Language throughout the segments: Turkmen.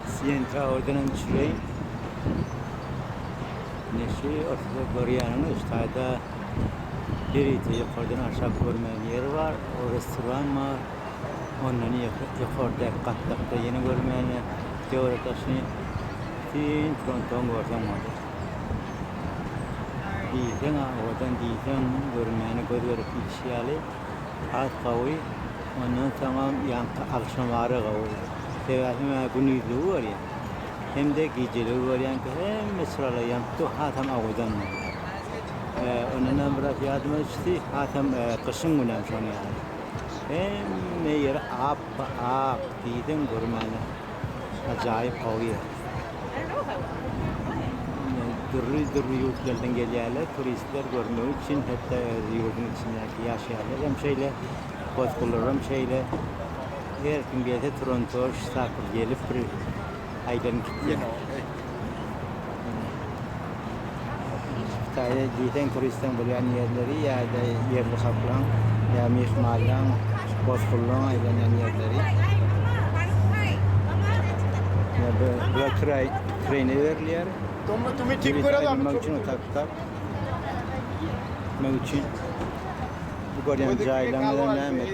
Siýen Tawerdeniň çileý neşi ortada görýäniňiz taýda ýörite ýokardan aşak görmegiň ýeri bar, o restoran bar, ondan ýokardaky gatlakda ýene görmäne döwlet daşyny bütin frontuň görseň boldy. Diýseň-ä owadan diýseň görmäne göz gerek diýlişi ýaly. Has gowy, ondan soňam ýaňky agşamara gowy. Sebäbi mä günizdigi görýän. Hemde gijeligi görýänki hemme çyrala ýanyp dur, hasam awadan bolýar. Ondanam biraz ýadyma düşdi, hasam gyşyň günem şoň ýaly. Hemme ýeri ap-ak, diýseň görmäne. Ajaýyp gowy ýer. Dürli dürli ýurtlardan gelýärler turistler görmek üçin hetda öz ýurduň içindäki ýaşaýanlar hem şeýle goşgular hem şeýle her kim gelse turan toş tapyp gelip bir aýdan gitýär. Hytaýda diýseň turistleň bolýan ýerleri ýa-da ýerli halklaryň ýa myhmanlaryň, bosgunlaryň aýlanýan ýerleri. Ýa bu bular kiraý kiraýna berilýär. Tommy Tommy tik görýär adam. Tommy Tommy tak tak. Näme üçin? Bu görýän jaýlaryň näme?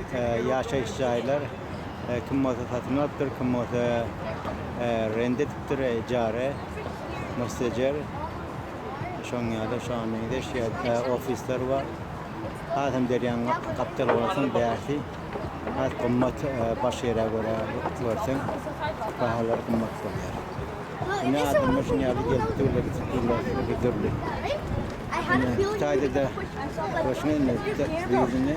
Ýaşaýyş jaýlar. Kim bolsa satyn alypdyr, kim bolsa rent edipdir, ijara, mustejer. Şoň ýaly şu an meň iş ýerinde ofisler bar. Hasam derýaň gapdaly bolsun bärsi. Has gymmat başga ýere görä görseň bahalar gymmat bolýar. Indi adamlar şuny ýaly gelip durlar, gitip durlar, öli dürli. Indi Hytaýda-da görşüňizmi, bu ýylda indi.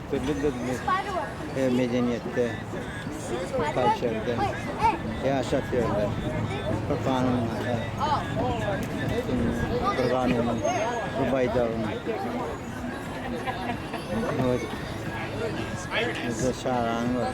Dürli dilli her medeniýetde kalçerde ýaşap ýörler. Bir kanun bir kanun bir baýdagyň Bizde şaran bar.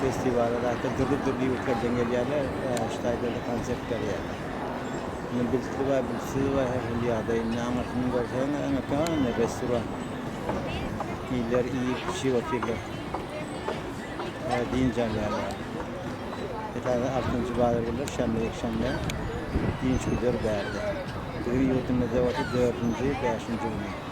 Festiwala zaten dürli-dürli ýurtlardan gelýärler, şu taýda-da konsert berýärler. Indi bilsidi bar, bilsizi bar, her hili ýagdaý. Indi aňyrsyny görseň, ene kän restoran. Iller iýip-içip otyrlar. Dynç alýarlar. Esasan altynjy bazar günler, şenbe, ýekşenbe dynç güder bärde. Biziň ýurdumyzda bolsa dördünji, bäşinji güni.